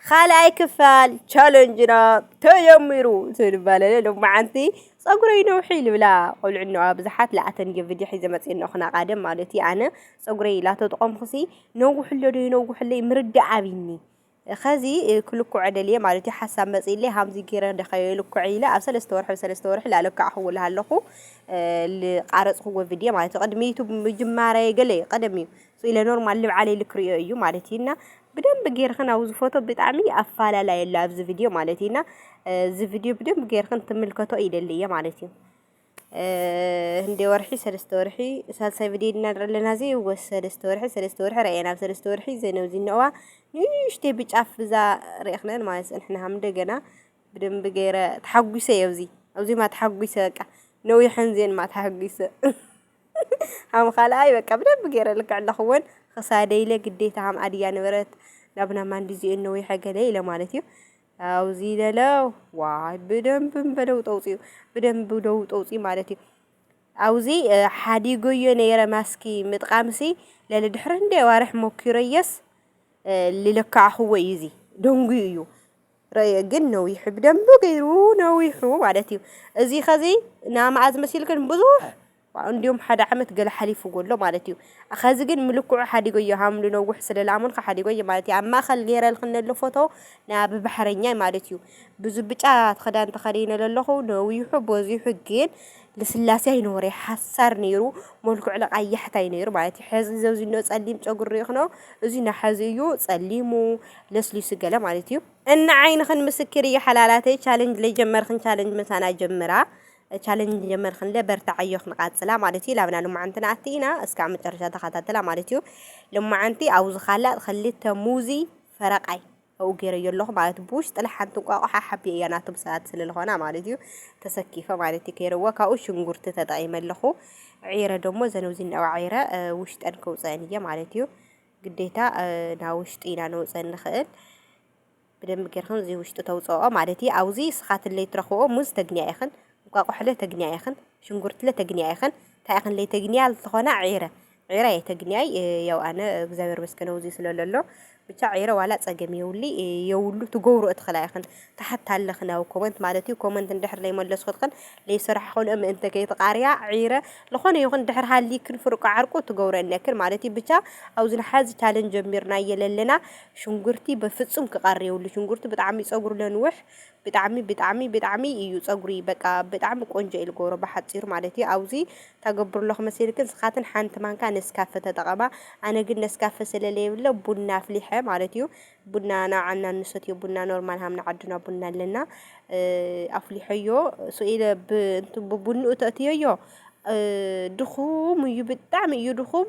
ኻልኣይ ክፋል ቻለንጅና ተጀሚሩ ትብል ባለለ ሎማዓንቲ ፀጉረይ ነውሒ ልብላ ቆልዑ እነዋ ብዙሓት ለኣተን የ ቪድዮ ሒዘ መፅእ እነኹ ናቃደም ማለት እዩ ኣነ ፀጉረይ ላተጥቆምኩሲ ነውሕሎ ዶ ይነውሕለይ ምርዳእ ኣብኒ ኸዚ ክልኩዐ ደልየ ማለት እዩ ሓሳብ መፅእለይ ሃምዚ ጌረ ደኸዮ ልኩዐ ኢለ ኣብ ሰለስተ ወርሒ ብሰለስተ ወርሒ ላለካዕኹዎ ልሃለኹ ልቃረፅኹዎ ቪድዮ ማለት እዩ ቅድሚ ዩቱብ ምጅማረየ ገለ እዩ ቀደም እዩ ሶ ኢለ ኖርማል ልብዓለይ ኢሉ ክሪኦ እዩ ማለት እዩ እና ብደንብ ጌርኽን ኣብዚ ፎቶ ብጣዕሚ ኣፋላላይ ኣሎ ኣብዚ ቪድዮ ማለት እዩ እና እዚ ቪድዮ ብደንብ ጌርኽን ትምልከቶ ይደሊ እየ ማለት እዩ እንደ ወርሒ ሰለስተ ወርሒ ሳልሳይ ቪድዮ ኢና ንርኢ ኣለና እዚ ወስ ሰለስተ ወርሒ ሰለስተ ወርሒ ረኣየና ኣብ ሰለስተ ወርሒ ዘነው ዝነዋ ንእሽተይ ብጫፍ ብዛ ርኢኽነን ማለት ንሕና ሃም እንደገና ብደንብ ገይረ ተሓጒሰ እየ ኣብዚ ኣብዚማ ተሓጒሰ በቃ ነዊሐን ዜን ማ ተሓጒሰ ሃም ኻልኣይ በቃ ብደንቢ ገይረ ልክዕ ኣለኹ ወን ኽሳደይ ኢለ ግዴታ ሃም ኣድያ ነበረት ናብና ማንዲዚኦ ነው ይሐገለ ኢለ ማለት እዩ ኣውዚ ለለው ዋይ ብደንብ በደው ጠውፅዩ ብደንብ ደው ጠውፅዩ ማለት እዩ ኣውዚ ሓዲጎዮ ነይረ ማስኪ ምጥቃምሲ ለለ ድሕሪ እንደ ዋርሕ ሞኪረየስ ልለካዕኽዎ እዩ እዚ ደንጉዩ እዩ ረየ ግን ነዊሑ ብደንቢ ገይሩ ነዊሑ ማለት እዩ እዚ ከዚ ናማኣዝ መሲሉ ግን ብዙሕ እንዲሁም ሓደ ዓመት ገለ ሓሊፉዎ ኣሎ ማለት እዩ ከዚ ግን ምልክዑ ሓዲጎዮ ሃምሉ ነውሕ ስለ ስለልኣመንኩ ሓዲጎዮ ማለት እዩ ኣብ ማእኸል ገይረልክ ነሎ ፎቶ ናብ ባሕረኛይ ማለት እዩ ብዙ ብጫ ክዳን ተኸዲነ ለለኹ ነዊሑ በዚሑ ግን ልስላሴ ኣይነበሮይ ሓሳር ነይሩ መልክዑ ለቃ ያሕታይ ነይሩ ማለት እዩ ሕዚ እዚ እኖ ጸሊም ጸጉሪ ርኢኽኖ እዚ ና ሕዚ እዩ ጸሊሙ ለስሊሱ ገለ ማለት እዩ እና ዓይንኽን ምስክር እዩ ሓላላተይ ቻለንጅ ለጀመርኽን ቻለንጅ መሳና ጀምራ ቻለንጅ ጀመርኽን ለ በርታዕ ኣዮ ክንቃጽላ ማለት እዩ ላብና ልማዓንቲ ንኣቲ ኢና እስካብ መጨረሻ ተኸታተላ ማለት እዩ ልማዓንቲ ኣብዚ ካላ ክልተ ሙዚ ፈረቃይ ኣብኡ ገይረዮ ኣለኹ ማለት እዩ ብውሽጢ ጥለ ሓንቲ እንቋቑሖ ሓብየ እያ ናቶም ሰባት ስለልኾና ማለት እዩ ተሰኪፈ ማለት እዩ ከይረዎ ካብኡ ሽንጉርቲ ተጠቒመ ኣለኹ ዒረ ደሞ ዘነብዚ እንዳባ ዒረ ውሽጠን ከውፀአን እየ ማለት እዩ ግዴታ ናብ ውሽጢ ኢና ነውፀ ንኽእል ብደንብ ጌርክን እዚ ውሽጢ ተውፅኦ ማለት እዩ ኣብዚ ስኻትለይ ትረኽብኦ ሙዝ ተግንያ ኢኽን እንቋቑሖለ ተግንያ ኢኽን ሽንጉርትለ ተግንያ ኢኽን እንታይ ኢኽን ለይተግንያ ዝኾና ዒረ ዒረ የተግንያይ ያው ኣነ እግዚኣብሔር መስገን ኣውዙይ ስለ ለሎ ብቻ ዒረ ዋላ ጸገም የውሊ የውሉ ትገብሩ እትኽላ ኢኽን ታሓት ኣለኽን ኣብ ኮመንት ማለት እዩ ኮመንት እንድሕር ለይመለስኹልኽን ለይሰራሕኹልኦ ምእንተ ከይትቃርያ ዒረ ልኾነ ይኹን ድሕር ሃሊክን ፍርቁ ዓርቁ ትገብሩ እነክን ማለት እዩ ብቻ ኣውዚ ንሓዚ ቻለን ጀሚርናዬ ለለና ሽንጉርቲ በፍጹም ክቀሪ የውሉ ሽንጉርቲ ብጣዕሚ ጸጉሩ ለንውሕ ብጣዕሚ ብጣዕሚ ብጣዕሚ ኢዩ ጸጉሪ በቃ ብጣዕሚ ቆንጆ ኢዩ ልገብሮ ብሓጺሩ ማለት ኢዩ ኣውዚ ተገብሩ ኣለኩ መሲልኪ ንስካትን ሓንቲ ማንካ ነስካፈ ተጠቀማ ኣነ ግን ነስካፈ ስለ ለየብለ ቡና ኣፍሊሐ ማለት ኢዩ ቡና ናብ ዓና እንሰትዮ ቡና ኖርማል ሃም ንዓድና ቡና ኣለና ኣፍሊሐዮ ሱኢለ ብ እንት ብቡንኡ ተእትየዮ ድኩም ኢዩ ብጣዕሚ ኢዩ ድኩም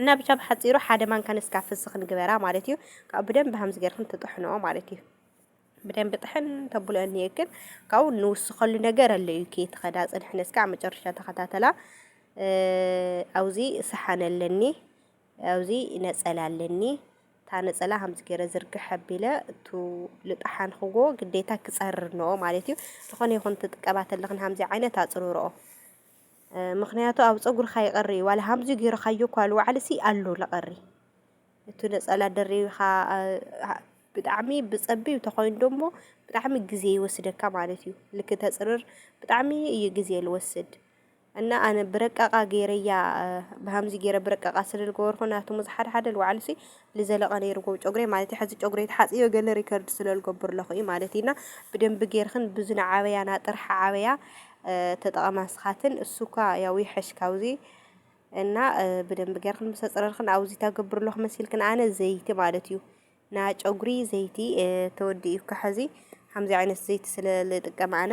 እና ብቻ ብሓጺሩ ሓደ ማንካ ነስካፈ ፍስኽ ንግበራ ማለት እዩ። ካብኡ ብደንብ ሃምዚ ገርክን ትጥሕንኦ ማለት እዩ። ብደንብ ጥሕን ተብሎ እንየክን ካብኡ ንውስኸሉ ነገር ኣለ እዩ ከይትኸዳ ጽንሕ ነስካዕ መጨረሻ ተኸታተላ ኣውዚ ሰሓን ኣለኒ ኣውዚ ነጸላ ኣለኒ እታ ነጸላ ሃምዚ ገይረ ዝርግሕ ኣቢለ እቱ ልጣሓንክዎ ግዴታ ክጸርር ነኦ ማለት እዩ ዝኾነ ይኹን ትጥቀባ ተለኽን ሃምዚ ዓይነት ኣጽርርኦ ምክንያቱ ኣብ ጸጉርካ ይቀሪ ዋላ ሃምዚ ጌርካዮ እኳ ልውዓልሲ ኣሎ ልቀሪ እቲ ነጸላ ደሪብካ ብጣዕሚ ብጸቢብ ተኾይኑ ደሞ ብጣዕሚ ግዜ ይወስደካ ማለት እዩ ልክ ተጽርር ብጣዕሚ እዩ ግዜ ልወስድ እና ኣነ ብረቃቃ ጌረያ ብሃምዚ ጌረ ብረቃቃ ስለ ልገበርኩ ናቱ ሙዝሓድሓደ ልውዓልሲ ልዘለቀ ነይርዎ ጨጉረይ ማለት እዩ ሐዚ ጨጉረይ ተሓፅዮ ገለ ሪከርድ ስለልገብር ኣለኹ እዩ ማለት እዩ እና ብደንቢ ጌርክን ብዙና ዓበያ ናጥርሓ ዓበያ ተጠቐማ ስኻትን እሱኳ ያው ይሐሽ ካብዚ እና ብደንቢ ጌርክን ምስ ኣፅረርክን ኣብዚ ታገብር ኣለኹ መሲልክን ኣነ ዘይቲ ማለት እዩ ና ጨጉሪ ዘይቲ ተወዲ እዩ ከሐዚ ከምዚ ዓይነት ዘይቲ ስለልጥቀም ኣነ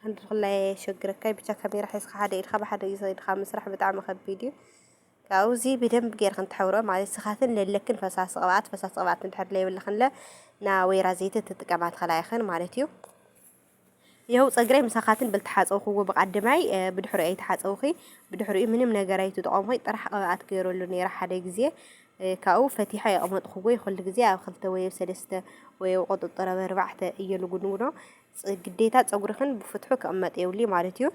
ክንዲ ክላይ ኣየሸግረካይ ብቻ ካሜራ ሒዝካ ሓደ ኢድካ ብሓደ ኢድካ ምስራሕ ብጣዕሚ ከቢድ እዩ ካብኡ እዚ ብደንብ ጌርክን ትሕብሮ ማለት ስኻትን ለለክን ፈሳሲ ቅብኣት ፈሳሲ ቅብኣት እንድሕር ለይብልክንለ ና ወይራ ዘይቲ ትጥቀማ ትኽላ ኢኽን ማለት እዩ ይኸው ፀግረይ ምሳኻትን ብልተሓፀውክዎ ብቃድማይ ብድሕሪኡ ኣይተሓፀውኺ ብድሕሪኡ ምንም ነገር ኣይትጥቐሙ ኮይ ጥራሕ ቅብኣት ገይረሉ ነይረ ሓደ ግዜ ካብኡ ፈቲሓ የቕመጥክዎ ይኹሉ ግዜ ኣብ ክልተ ወይ ኣብ ሰለስተ ወይ ኣብ ቁጥጥር ኣብ ኣርባዕተ እየ ልጉንጉኖ ግዴታ ፀጉርኽን ብፍትሑ ክቕመጥ የብሉይ ማለት እዩ።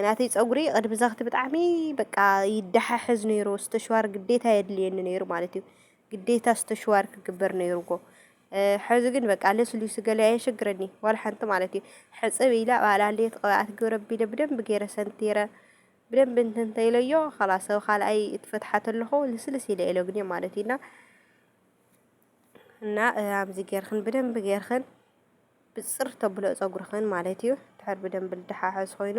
ናተይ ፀጉሪ ቅድሚ ዘኽቲ ብጣዕሚ በቃ ይደሓሕዝ ነይሩ ስተሽዋር ግዴታ የድልየኒ ነይሩ ማለት እዩ ግዴታ ስተሽዋር ክግበር ነይሩዎ ሕዚ ግን በቃ ልስሉስ ገለ ኣየሸግረኒ ዋላ ሓንቲ ማለት እዩ ሕፅብ ኢለ ባዕላለየት ቅብኣት ግብረ ቢለ ብደንብ ገይረ ሰንቲረ ብደንብ እንትንተይለዮ ኸላሰብ ካልኣይ እትፈትሓ ተለኹ ልስልስ ኢለ ኢለግኒ ማለት እዩና እና ኣብዚ ጌርክን ብደንብ ጌርክን ብጽር ተብሎ ጸጉርክን ማለት እዩ ድሕር ብደንብ ልደሓሓዝ ኮይኑ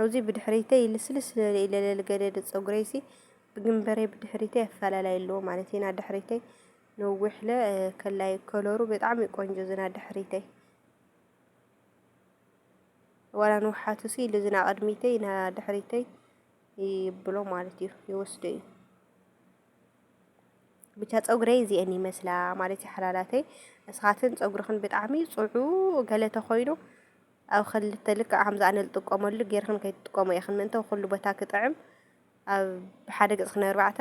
ኣብዚ ብድሕሪተይ ልስልስ ለለ ኢለለል ገደድ ጸጉረይሲ ብግንበረይ ብድሕሪተይ ኣፈላላይ ኣለዎ ማለት ኢና ድሕሪተይ ነዊሕለ ከላይ ከለሩ ብጣዕሚ ቆንጆ ዝና ድሕሪተይ ዋላ ንውሓቱ ሲ ልዝና ቅድሚተይ ና ድሕሪተይ ይብሎ ማለት እዩ ይወስዶ እዩ ብቻ ፀጉረይ እዚአን ይመስላ ማለት እዩ ሓላላተይ እስኻትን ፀጉርኽን ብጣዕሚ ፅዑ ገለ ተኾይኑ ኣብ ክልተ ልክዕ ከምዚ ኣነ ዝጥቀመሉ ጌርኽን ከይትጥቀሙ ኢኽን ምእንተ ኩሉ ቦታ ክጥዕም ኣብ ሓደ ገፅኽን ኣርባዕተ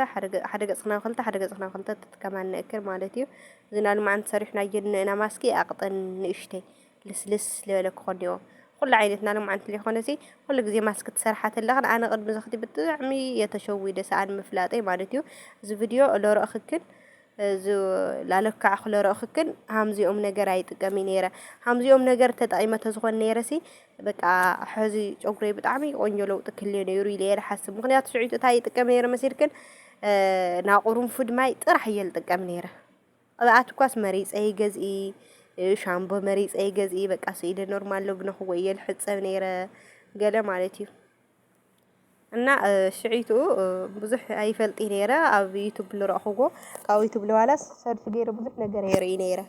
ሓደ ገፅኽን ኣብ ክልተ ሓደ ገፅኽን ኣብ ክልተ ትጥቀማ ንእክል ማለት እዩ እዚ ናብ ልማዓንቲ ሰሪሕናዮ ንእና ማስኪ ኣቕጥን ንእሽተይ ልስልስ ልበለ ክኾን ኔዎ ኹሉ ዓይነት ናይ ሎምዓንቲ ለይኾነሲ ኹሉ ግዜ ማስክ ትሰርሓ ተለኽን ኣነ ቅድሚ ዝኽቲ ብጣዕሚ እየ ተሸዊደ ሰኣን ምፍላጠይ ማለት እዩ እዚ ቪድዮ ለረእኽክን እዚ ላለካዕኹ ለረእኽክን ሃምዚኦም ነገር ኣይጥቀሚ ነይረ ሃምዚኦም ነገር ተጠቂመ ተዝኾን ነይረሲ በቃ ሕዚ ጨጉረይ ብጣዕሚ ቆንጆ ለውጢ ክልዮ ነይሩ ኢለ እየ ዝሓስብ ምኽንያቱ ሽዑ እንታይ ይጥቀም ነይረ መሲልክን ናቁሩንፉድ ማይ ጥራሕ እየ ዝጥቀም ነይረ ኣብ ኣትኳስ መሪጸ ይገዝኢ ሻምቦ መሪጸ ይገዝኢ በቃ ስኢደ ኖርማል ሎግነ ክወየ ልሕጸብ ነይረ ገለ ማለት እዩ እና ሽዒቱ ብዙሕ ኣይፈልጢ ነይረ ኣብ ዩቱብ ልረእኹዎ ካብ ዩቱብ ልዋላስ ሰልፊ ገይረ ብዙሕ ነገር የርኢ ነይረ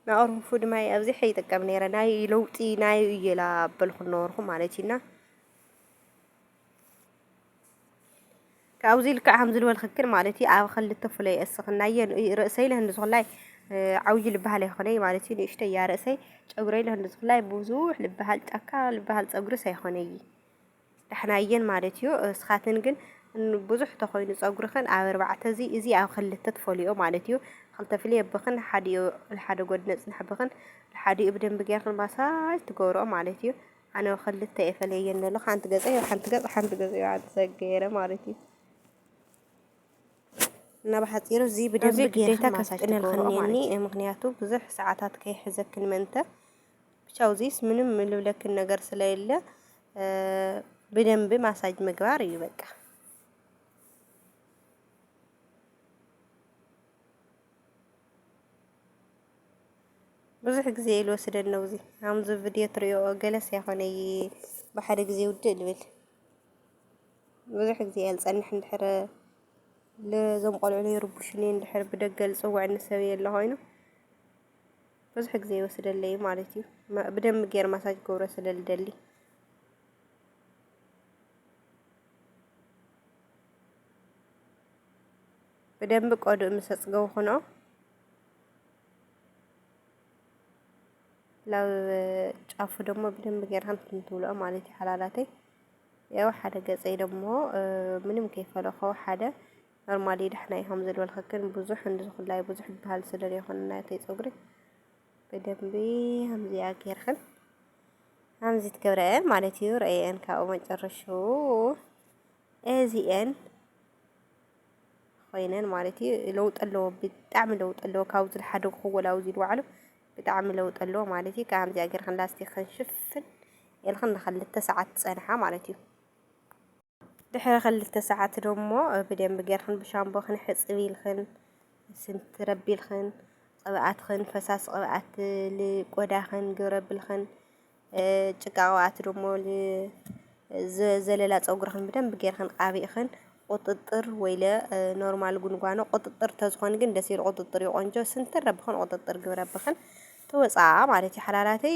ናቕርፉ ድማ ኣብዚሕ ይጥቀም ነይረ ናይ ለውጢ ናይ እየላ በልኩ ነበርኩ ማለት እዩና ካብዙይ ልክዕ ከምዚ ልበልክክን ማለት እዩ ኣብ ክልተ ፍለይ እስክናዮ ርእሰይ ለህንዝኩላይ ዓውዪ ልበሃል ኣይኮነይ ማለት እዩ ንእሽተይ እያ ርእሰይ ጨጉረይ ለህንዝኩላይ ብዙሕ ልበሃል ጫካ ልበሃል ፀጉርስ ኣይኮነይ ዳሕናየን ማለት እዩ እስኻትን ግን ብዙሕ ተኾይኑ ፀጉርኽን ኣብ ኣርባዕተ እዚ እዚ ኣብ ክልተ ትፈልዮ ማለት እዩ ክልተ ፍልየ ብኽን ሓዲኡ ሓደ ጎድነፅ ንሕብኽን ሓዲኡ ብደንቢ ጌርክን ማሳጅ ትገብርኦ ማለት እዩ ኣነ ክልተ እየ ፈለየን ዘሎ ሓንቲ ገፀ ዮ ሓንቲ ገፅ ሓንቲ ገፅ ዮ ዓዲ ሰገረ ማለት እዩ እና ብሓፂሩ እዚ ብደንብ ግዴታ ከስጥነልክኒኒ ምክንያቱ ብዙሕ ሰዓታት ከይሕዘክን መንተ ብቻ ውዚስ ምንም ልብለክን ነገር ስለሌለ ብደንብ ማሳጅ ምግባር እዩ በቃ። ብዙሕ ግዜ ኢዩ ልወስደኒ ነብዙይ ኣምዚ ቭድዮ ትሪኦኦ ገለስ ኣይኮነይ ብሓደ ግዜ ውድእ ልብል ብዙሕ ግዜ ኢየ ልጸንሕ እንድሕር እዞም ቆልዑ ይርብሹኒ እንድሕር ብደገ ልጽወዐኒ ሰብ የለ ኮይኑ ብዙሕ ግዜ ይወስደለይ ማለት ኢዩ ብደንቢ ጌር ማሳጅ ክገብሮ ስለ ልደሊ ብደንቢ ቆዱእ ምስ ኣጽገውኩኖ ናብ ጫፉ ደሞ ብደንብ ጌርካ እንትን ትብልኦ ማለት እዩ ሓላላተይ ያው ሓደ ገጸይ ደሞ ምንም ከይፈለኾ ሓደ ኖርማሊ ዳሕና ይኸም ዝልበልክክን ብዙሕ እንድዝኹላይ ብዙሕ ይበሃል ስለ ዘይኮነ ናተይ ፀጉሪ ብደንቢ ከምዚኣ ጌርክን ከምዚ ትገብረአን ማለት እዩ ረአየን ካብኡ መጨረሹ እዚአን ኾይነን ማለት እዩ ለውጢ ኣለዎ ብጣዕሚ ለውጢ ኣለዎ ካብዚ ዝሓደግክዎ ላብ እዚ ልውዓሉ ብጣዕሚ ለውጢ ኣለዎ ማለት እዩ ከምዚኣ ጌርካ ላስቲክ ክንሽፍን ኤልክን ንክልተ ሰዓት ፀንሓ ማለት እዩ ድሕሪ ክልተ ሰዓት ደሞ ብደንብ ጌርክን ብሻምቦ ክንሕፅብ ኢልክን ስንቲ ረቢልክን ቅብኣትክን ፈሳሲ ቅብኣት ልቆዳኽን ግብረብልክን ጭቃ ቅብኣት ደሞ ዘለላ ፀጉርኽን ብደንብ ጌርኽን ቃቢእኽን ቁጥጥር ወይለ ኖርማል ጉንጓኖ ቁጥጥር ተዝኾን ግን ደስ ይብል ቁጥጥር እዩ ቆንጆ ስንትር ረብኽን ቁጥጥር ግብረብኽን ትወፅኣ ማለት እዩ ሓላላተይ